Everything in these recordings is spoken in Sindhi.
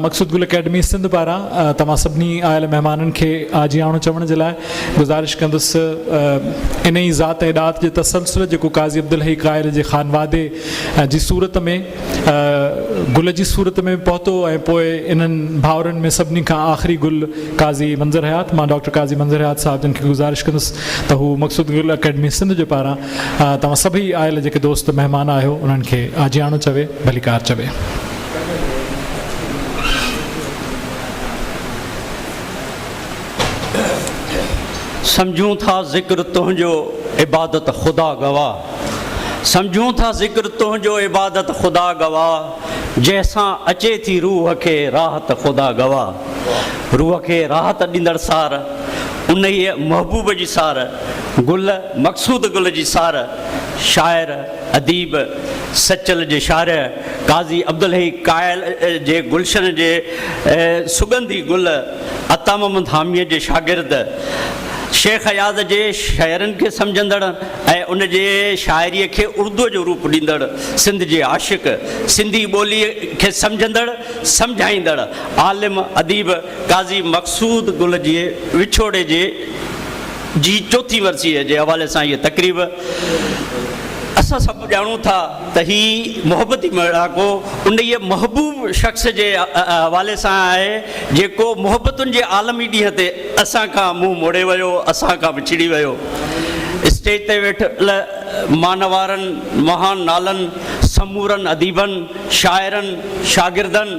مقصود گل اڪيڊمي سنڌ پاران توهان سڀني آيل مهمانن کي آجي آڻو چوڻ جي لاء گذارش ڪندس ان ئي ذات ۽ ڏات جي تسلسل جيڪو قاضي عبدالحي قائل جي خانوادي جي صورت ۾ گل جي صورت ۾ پهتو ۽ پوء انهن ڀائرن ۾ سڀني کان آخري گل قاضي منظر حيات، مان ڊاڪٽر قاضي منظر حيات صاحب جن کي گذارش ڪندس ته هو مقصود گل اڪيڊمي سنڌ جي پاران توهان سڀئي آيل جيڪي دوست مهمان آهيو انهن کي آجياڻو چوي، ڀليڪار چوي. سمجهون ٿا ذڪر تنهنجو عبادت خدا گواهه سمجهون ٿا ذڪر تنهنجو عبادت خدا گواهه جنهن سان اچي ٿي روح کي راحت خدا گواهه. روح کي راحت ڏيندڙ سار، انهيء محبوب جي سار، گل مقصود گل جي سار، شاعر، اديب، سچل جي شارع قاضي عبدالحي قائل جي گلشن جي سڳنڌي گل، عطا محمد حاميء جي شاگرد، شيخ اياز جي شعرن کي سمجهندڙ ۽ ان جي شاعريء کي اردوء جو روپ ڏيندڙ، سنڌ جي عاشق، سنڌي ٻوليء کي سمجهندڙ، سمجهائيندڙ، عالم اديب قاضي مقصود گل جي وڇوڙي جي جي چوٿين ورسيء جي حوالي سان هيء تقريب. اسان سڀ ڄاڻون ٿا ته هي محبتي ميڙاڪو انهيء محبوب شخص جي حوالي سان آهي، جيڪو محبتن جي عالمي ڏينهن تي اسان کان منهن موڙي ويو، اسان کان وڇڙي ويو. اسٽيج تي ويٺل مانوارن، مهان نالن، سمورن اديبن، شاعرن، شاگردن،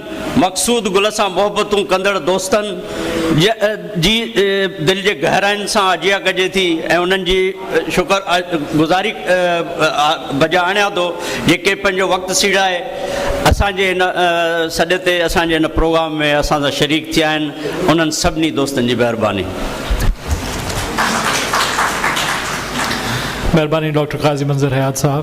مقصود گل سان محبتون ڪندڙ دوستن جي دل جي گهراين سان آجيان ڪجي ٿي ۽ انهن جي شڪر گذاري بجا آڻيان ٿو جيڪي پنهنجو وقت سيڙائي اسان جي هن سڏ تي اسان جي هن پروگرام ۾ اسان سان شريڪ ٿيا آهن انهن سڀني دوستن جي مهرباني مهرباني ڊاڪٽر قاضي منظر حيات صاحب.